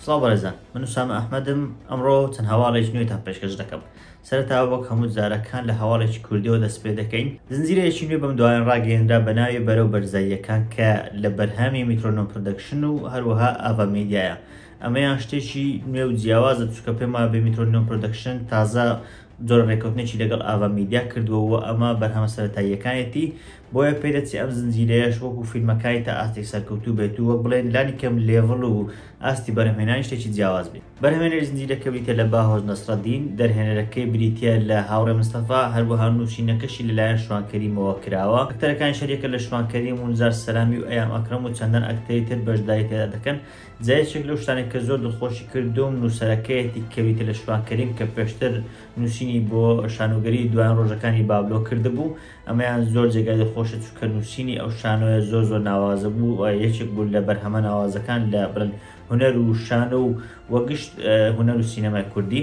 سڵاو بەڕێزان من سامە ئەحمەدم ئەمڕۆ چەند هەواڵێک نوێتان پێشکەش دەکەم سەرتاوە وەک هەموو جارەکان لە هەواڵێکی کوردیەوە دەست پێ دەکەین زنجیرەیەکی نوێ بەم دوایان ڕاگەێنرا بە ناوی بەرەو بەرزاییەکان کە لە بەرهامی میترۆنۆ پردەکشن و هەروەها ئاڤا میدیایە ئەمەیان شتێکی نوێ و جیاوازە چکە پێما بێ میترۆنۆ پردەکشن تازە جۆرە رێکەوتنێکی لەگەڵ ئاڤا میدیا کردووە و ئەمە بەرهەمە سەرەتاییەکانێتی، بۆیە پێدەچێ ئەم زنجیرەیەش وەکو فیلمەکای تا ئاستێک سەرکەوتوو بێت و وەک بڵێین لانی کەم لێڤڵ و ئاستی بەرهەمهێنانی شتێکی جیاواز بێت. بەرهەمهێنەری زنجیرەکە بریتییە لە باهۆز نەسرەدین، دەرهێنەرەکەی بریتییە لە هاوڕێ مستەفا، هەروەها نووسینەکەشی لەلایەن شوان کەریمەوە کراوە، ئەکتەرەکانیش هەریەکە لە شوان کەریم و نزار سەلامی و ئەیام ئەکرەم و چەندان ئەکتەری تر بەشداری تێدا دەکەن، جا یەکێک لەو شتانەی کە زۆر دڵخۆشی کردووم نووسەرەکەیەتی کە ویتە لە شوان کەریم کە پێشتر نووسینی بۆ شانۆگەریی دوایین ڕۆژەکانی بابلۆ کردبوو، ئەمەیان زۆر جێگای دڵخۆشە چونکە نووسینی ئەو شانۆیە زۆر زۆر ناوازە بوو و یەکێک بوو لە بەرهەمە ناوازەکان لە بڵێن هونەر و شانۆ و وە گشت هونەر و سینەمای کوردی،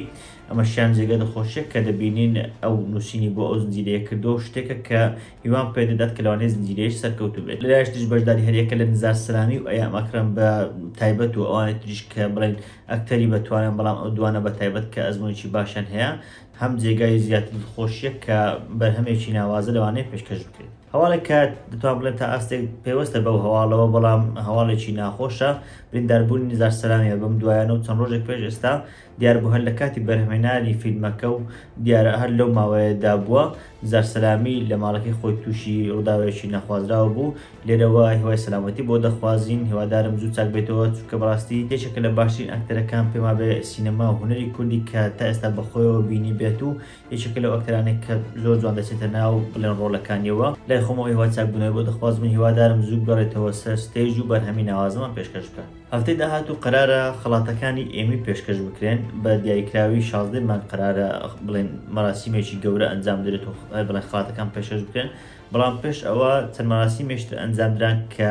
ئەمەشیان جێگای دڵخۆشییە کە دەبینین ئەو نووسینی بۆ ئەو زنجیرەیە کردووە و شتێکە کە هیوام پێ دەدات کە لەوانەیە زنجیرەیەش سەرکەوتوو بێت لەلایەش تریش بەشداری هەریەکە لە نزار سەلامی و ئەیام ئەکرەم بە تایبەت و ئەوانەی تریش کە بڵێن ئەکتەری بەتوانن بەڵام ئەو دوانە بە تایبەت کە ئەزمونێکی باشیان هەیە هەم جێگای زیاتر دڵخۆشیە کە بەرهەمێکی ناوازە لەوانەیە پێشکەش بکرێت هەواڵێک کە دەتوان بڵێن تا ئاستێک پێوەستە بەو هەواڵەوە بەڵام هەواڵێکی ناخۆشە برینداربوونی نزار سەلامیە بەم دوایانە و چەند ڕۆژێک پێش ئێستا دیاربوو هەر لە کاتی بەرهەمهێنانی فیلمەکە و دیارە هەر لەو ماوەیەدا بووە، زار سەلامی لە ماڵەکەی خۆی تووشی ڕووداوێکی نەخوازراو بوو، لێرەوە هیوای سەلامەتی بۆ دەخوازین، هیوادارم زوو چاک بێتەوە، چونکە بەڕاستی یەکێکە لە باشترین ئەکتەرەکان پێم وابێ سینەما و هونەری کوردی کە تا ئێستا بە خۆیەوە بینیبێت و یەکێکە لەو ئەکتەرانەی کە زۆر جوان دەچێتە ناو بڵێن ڕۆڵەکانیەوە، لای خۆمەوە هیوای چاک بوونەوەی بۆ دەخوازم و هیوادارم زوو بگەڕێتەوە سەر ستەیج و بەرهەمی ناوازەمان پێشکەش بکات. هەفتەی داهاتوو قەرارە خەڵاتەکانی ئێمی پێشکەش بکرێن، بە دیاریکراوی شازدە ی مانگ قەرارە بڵێن مەراسیمێکی گەورە ئەنجام درێت و بڵێن خەڵاتەکان پێشکەش بکرێن، بەڵام پێش ئەوە چەند مەراسیمێکی تر ئەنجام دران کە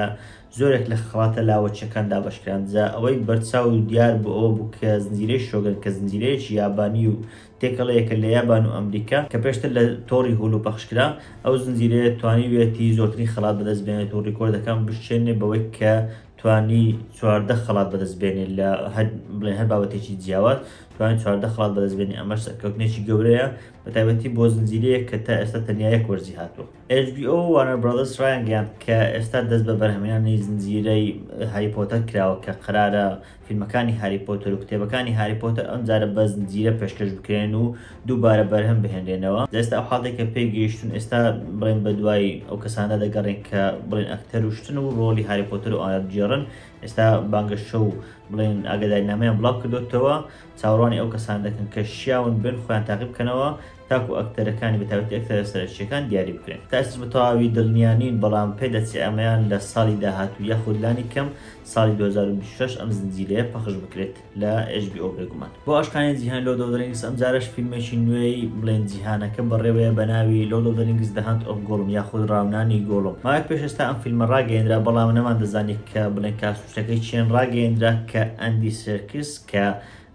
زۆرێک لە خەڵاتە لاوەکییەکان دابەش کران، جا ئەوەی بەرچاو و دیار بوو ئەوە بوو کە زنجیرەی شۆگەن کە زنجیرەیەکی یابانی و تێکەڵەیەکە لە یابان و ئەمریکا کە پێشتر لە تۆڕی هولو پەخش کرا، ئەو زنجیرەیە توانیویەتی زۆرترین خەڵات بەدەست بێنێت و ڕیکۆردەکان بشکێنێت بەوەی کە توانی چواردە خەڵات بەدەست بێنێت لە هەر بڵێن هەر بابەتێکی جیاواز توانی چواردە خەڵات بەدەست بێنێ ئەمەش سەرکەوتنێکی گەورەیە بە تایبەتی بۆ زنجیرەیەک کە تا ئێستا تەنیا یەک وەرزی هاتووە HBO وارنەر برادرس ڕایانگەیاند کە ئێستا دەست بە بەرهەمهێنانی زنجیرەی هاری پۆتەر کراوە کە قەرارە فیلمەکانی هاری پۆتەر و کتێبەکانی هاری پۆتەر ئەمجارە بە زنجیرە پێشکەش بکرێن و دووبارە بەرهەم بهێنرێنەوە لە ئێستا ئەو حاڵێک کە پێی گەیشتون ئێستا بڵێن بە دوای ئەو کەسانە دەگەڕێن کە بڵێن ئەکتەر وشتن و ڕۆلی هاری پۆتر و ئایا بگێڕن ئێستا بانگەشە و بڵێن ئاگداری نامیان بڵاو کردوتەوە چاوەڕوانی ئەو کەسان دەکەن کە شیاون بن خۆیان تاقی بکەنەوە تاکو ئەکتەرەکانی بەتاوەتی ئەکتەرە سەرچیەکان دیاری بکرێن تاس بە تەواوی دڵنیانین بەڵام پێ دەچێ ئەمەیان لە ساڵی داهاتوو یاخود لانی کەم ساڵی 2026 ئەم زنجیرەیە پەخش بکرێت. لە HBO بێگومان بۆ ئاشقانی جیهان لۆ دەودرنگس ئەمجارش فیلمێکی نوێی بڵێن جیهانەکە بەڕێوەیە بە ناوی لۆ دەودرنگس دەهاند ئۆف گۆڵم یاخود ڕاونانی گۆڵم ماک پێش ئێستا ئەم فیلمە ڕاگەیەنرا بەڵام نەمان دەزانی کە بڵێن کاسوشتەکەی چێن ڕاگەیەنرا کە ئەندی سێرکس کە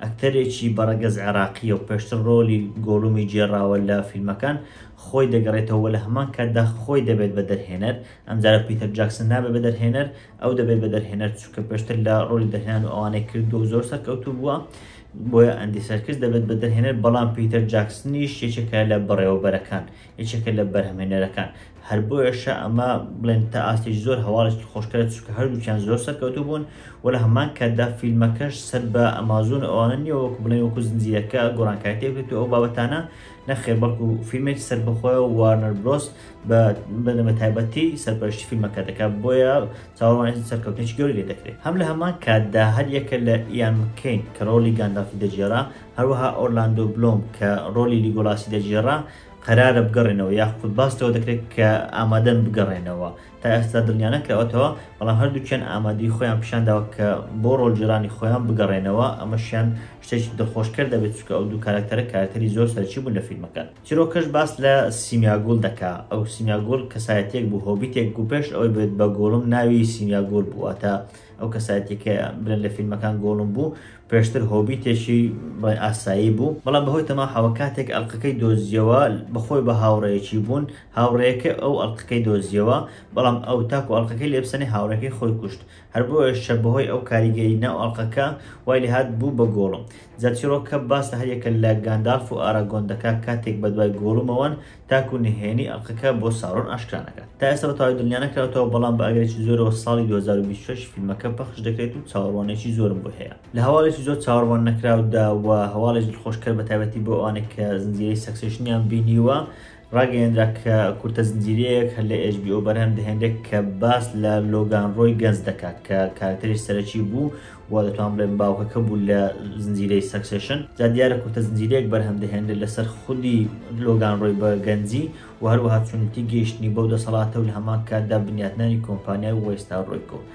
ئەکتەرێکی بەڕەگەز عێراقیە و پێشتر ڕۆلی گۆڵمی جێراوە لە فیلمەکان خۆی دەگەڕێتەوە لە هەمان کاتدا خۆی دەبێت بە دەرهێنەر ئەمجارە پیتەر جاکسن نابێت بە دەرهێنەر ئەو دەبێت بە دەرهێنەر چونکە پێشتر لە ڕۆلی دەرهێنان و ئەوانەی کردووە زۆر سەرکەوتوو بووە بۆیە ئەندی سەرکس دەبێت بە دەرهێنەر بەڵام پیتەر جاکسنیش یەکێکە لە بەڕێوەبەرەکان یەکێکە لە بەرهەمێنەرەکان هەر بۆیەشە ئەمە بڵێن تا ئاستێک زۆر هەواڵێکی خۆشکرە چکە هەردووچیان زۆر سەرکەوتو بوون و لە هەمان کاتدا فیلمەکەش سەر بە ئەمازون ئەوانە نیەوەک بڵێ وەکو زنجیرەکە گۆڕانکاتێکێت و ئەو بابەتانە نەخێر بەڵکو فیلمێکی سەربەخۆیە و وارنەر برۆس بە بەنەمە تایبەتی سەرپەرشتی فیلمەکە دەکات بۆیە چاوەڕوانی سەرکەوتنێکی گەوری لێ دەکرێت هەم لە هەمان کاتدا هەر یەکە لە ئیان مکەین کە ڕۆڵی گانداڵفی دەگێڕا هەروەها ئۆرلاندۆ بلۆم کە ڕۆلی لیگۆلاسی دەگێڕا قەرارە بگەڕێنەوە یاخود باس لەوە دەکرێت کە ئامادەن بگەڕێنەوە تا ئێستا دڵنیانەکراوەتەوە، بەڵام هەردووکیان ئامادەیی خۆیان پیشانداوە کە بۆ ڕۆڵگێڕانی خۆیان بگەڕێنەوە، ئەمەشیان شتێکی دڵخۆشکەر دەبێت، چونکە ئەو دوو کارەکتەرە کارەکتەری زۆر سەرەکی بوون لە فیلمەکە. چیرۆکەش باس لە سیمیاگول دەکا، ئەو سیمیاگول کەسایەتییەک بوو، هۆبیتێک بوو، پێش ئەوەی بێت بە گۆڵم ناوی سیمیاگول بوو، واتە ئەو کەسایەتییە کە برێن لە فیلمەکان گۆڵم بوو، پێشتر هۆبیتێکی بڵێن ئاسایی بوو، بەڵام بەهۆی تەماحەوە کاتێک ئەڵقەکەی دۆزییەوە، بەخۆی و بە هاوڕێیەکی بوون، هاوڕێیەکەی ئەو ئەڵقەکەی دۆزیەوە بەڵام ئەو تاکو ئەڵقەکەی لێبسەنێ هاوڕێکەی خۆی کوشت هەر بۆیەشە بەهۆی ئەو کاریگەری ناو ئەڵقەکە وای لێهات بوو بە گۆڵم جا چیڕۆکە باس لە هەریەکە لە گاندالف و ئاراگۆن دەکا کاتێک بەدوای گۆڵمەوەن تاکو نهێنی ئەڵقەکە بۆ ساورۆن ئاشکرا نەکات تا ئێستا بەتەواوی دڵنیانەکراوتەوە بەڵام بە ئەگەرێکی زۆرەوە ساڵی 2026 فیلمەکە پەخش دەکرێت و چاوەڕوانێکی زۆرم بۆی هەیە لە هەواڵێکی زۆر چاوەڕوان نەکراودا و هەواڵێک دڵخۆشکەر بەتایبەتی بۆ ئەوانەی کە زنجیرەی سەکسێشنیان بینیوە ڕاگەیەنرا کە کورتە زنجیرەیەک هەر لە ئێچ بی ئۆ بەرهەم دەهێنرێت کە باس لە لۆگان ڕۆی گەنج دەکات کە کارکتەری سەرەکی بوو و دەتوان بڵێن باوکەکە بوو لە زنجیرەی سەکسێشن جا دیارە کورتە زنجیرەیەک بەرهەم دەهێنرێت لەسەر خودی لۆگان ڕۆی بە گەنجی و هەروەها چۆنیتی گەیشتنی بەو دەسەڵاتە و لە هەمان کاتدا بنیاتنانی کۆمپانیای وێستاڕۆیکۆ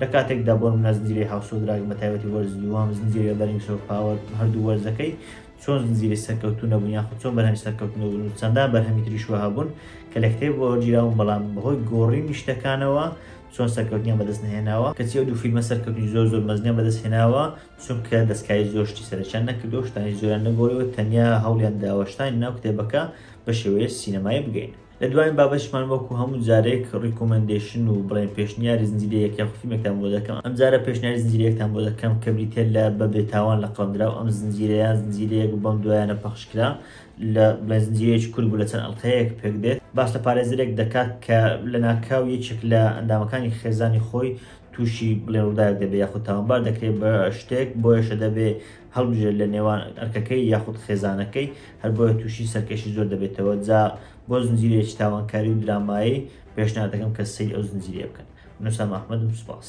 لە کاتێکدا بۆ نمونە زنجیرەی هاوسۆ دراگن بە تایبەتی وەرزی دووەم زنجیرە بەرینگ سۆف پاوەر هەردوو وەرزەکەی چۆن زنجیری سەرکەوتو نەبوون یاخود چۆن بەرهەمی سەرکەوتن نەبوون و چەندان بەرهەمی تریش وەها بوون کە لە کتێب وەرگیراون بەڵام بەهۆی گۆڕینی شتەکانەوە چۆن سەرکەوتنیان بەدەست نەهێناوە کەچی ئەو دوو فیلمە سەرکەوتنی زۆر زۆر مەزنیان بەدەست هێناوە چونکە دەستکاری زۆر شتی سەرەکیان نەکردووە شتانی زۆریان نەگۆڕیوە تەنیا هەوڵیان داوە شتانی ناو کتێبەکە بە شێوەیە سینەمایی بگەینن. لە دواین بابەتیشمان وەکو هەموو جارێک ڕیکۆمەندەیشن و بڵێن پێشنیاری زنجیرە یەک یاخود فیلمێکتان بۆ دەکەم ئەم جارە پێشنیاری زنجیرە یەکتان بۆ دەکەم کە بریتیە لە بە بێتاوان لە قەڵەم دراو ئەم زنجیرە یان زنجیرە یەک و بەم دوایانە پەخش کرا لە بڵێن زنجیرەیەکی کورد بوو لە چەند ئەڵقەیەک پێک دێت باس لە پارێزەرێک دەکات کە لە ناکاو یەکێک لە ئەندامەکانی خێزانی خۆی تووشی بڵێ ڕووداوێک دەبێ یاخود تاوانبار دەکرێت بە شتێک بۆیەشە دەبێ هەڵبژێرێت لە نێوان ئەرکەکەی یاخود خێزانەکەی، هەر بۆیە تووشی سەرکەشی زۆر دەبێتەوە، جا بۆ زنجیرەیەکی تاوانکاری و درامایی پێشنیار دەکەم کە سەیری ئەو زنجیرەیە بکەن. من ئوسامە ئەحمەدم سوپاس.